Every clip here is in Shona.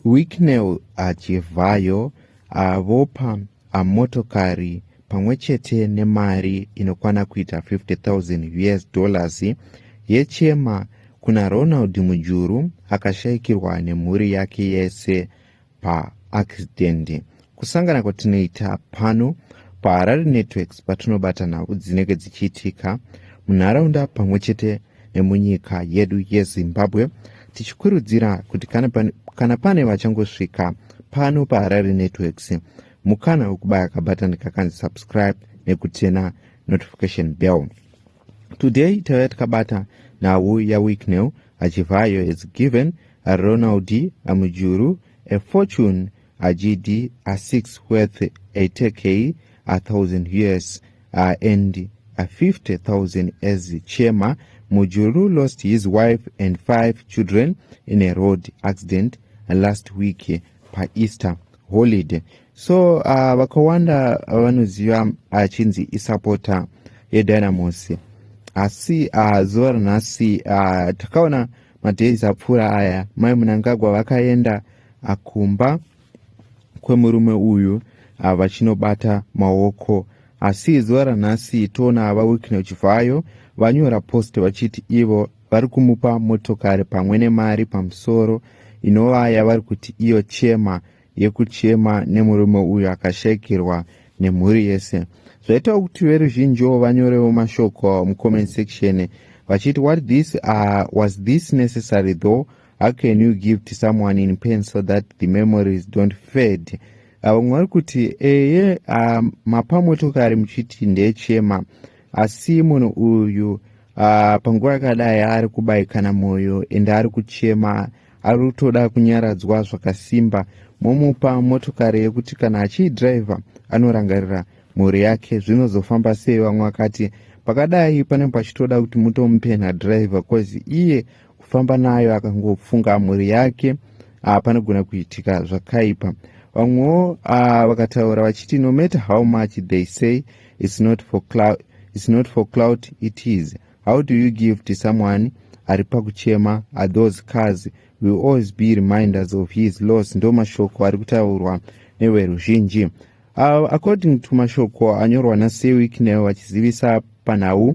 Wicknell achivhayo avopa a motokari pamwe chete nemari inokwana kuita 50,000 us dollars yechema kuna Ronald Mujuru akashaikirwa nemhuri yake yese paaccident. Kusangana kwatinoita pano paHarare Networks patinobata nhau dzinenge dzichiitika munharaunda pamwe chete nemunyika yedu yezimbabwe tichikurudzira kuti kana pane, kana pane vachangosvika pano paharare networks mukana wekubaya kabatani kakanzi subscribe nekutena notification bell today tauya tikabata nhau yawicknel achivhayo has given ronald amujuru a fortune Hachidi a six worth eighty k a thousand us uh, and a fifty thousand as chema mujuru lost his wife and five children in a road accident last week paeaster holiday so uh, vakawanda vanoziva achinzi uh, isapota yedynamos asi uh, zuva ranhasi uh, takaona madays apfuura aya mai munangagwa vakaenda akumba kwemurume uyu ah, vachinobata maoko asi zuva ranhasi toona ava wiknel chivhayo vanyora post vachiti ivo vari kumupa motokari pamwe nemari pamusoro inova yavari kuti iyo chema yekuchema nemurume uyu akashaikirwa nemhuri yese zvaitawo kuti veruzhinjiwo vanyorewo mashoko mucomment section vachiti what this uh, was this necessary though how can you give to someone in pain so that the memories don't fade ah, vamwe vari kuti eye ah, mapa motokari muchiti ndeyechema asi munhu uyu ah, panguva yakadai ari kubaikana mwoyo ende ari kuchema ari kutoda kunyaradzwa zvakasimba momupa motokari yekuti kana achiidhiraivha anorangarira mhuri yake zvinozofamba sei vamwe vakati pakadai panenge pachitoda kuti mutomupenha dhiraivha bcause iye kufamba nayo akangofunga mhuri yake ah, panogona kuitika zvakaipa vamwewo ah, vakataura vachiti no matter how much they say it's not for cloud, it's not for cloud it is how do you give to someone ari pakuchema are those cars will always be reminders of his loss ndo mashoko ari kutaurwa neveruzhinji uh, according to mashoko anyorwa nasewicknel vachizivisa panhau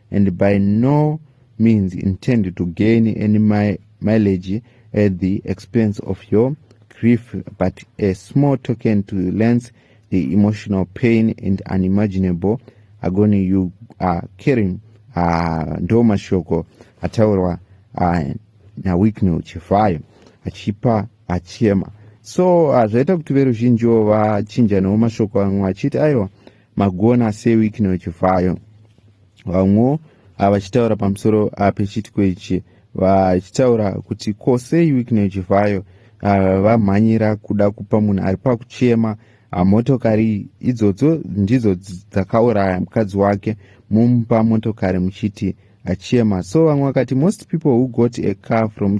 and by no means intend to gain any mi mileage at the expense of your grief but a small token to lance the emotional pain and unimaginable agony you are caring ah, ndo mashoko ataurwa ah, nawicknel chivhayo achipa achema so ah, zvaita kuti veruzhinjiwo vachinjanawo mashoko amwe achiti aiwa magona sei wikino chivhayo vamwewo ah, vachitaura pamusoro ah, pechiitiko ichi vachitaura kuti ko sei wikino chivhayo ah, vamhanyira kuda kupa munhu ari pakuchema motokari idzodzo ndidzo dzakauraya mukadzi wake mumupa motokari muchiti achema so vamwe vakati most people who got a car from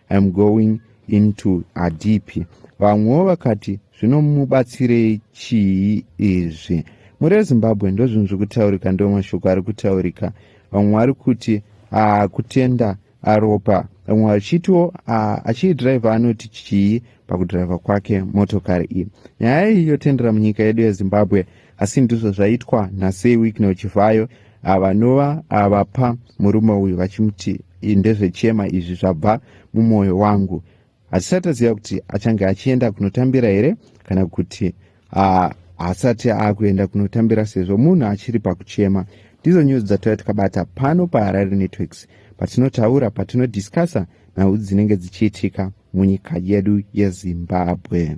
I'm going into adipi vamwewo vakati zvinomubatsirei chii izvi mhuri yezimbabwe ndozvinhu zviri kutaurika ndiwo mashoko ari kutaurika vamwe vari kuti ah, kutenda aropa vamwe vachitiwo ah, achiidhiraivha anoti chii pakudhiraivha kwake motokari iyi nyaya iyi yotendera munyika yedu yezimbabwe asi ndizvo zvaitwa nasei wicknel chivhayo vanova vapa murume uyu vachimuti ndezvechema izvi zvabva mumwoyo wangu hatisati taziva kuti achange achienda kunotambira here kana kuti haasati aakuenda kunotambira sezvo munhu achiri pakuchema ndizo nyuzi dzatova tikabata pano paharare networks patinotaura patinodiscussa nhau dzinenge dzichiitika munyika yedu yezimbabwe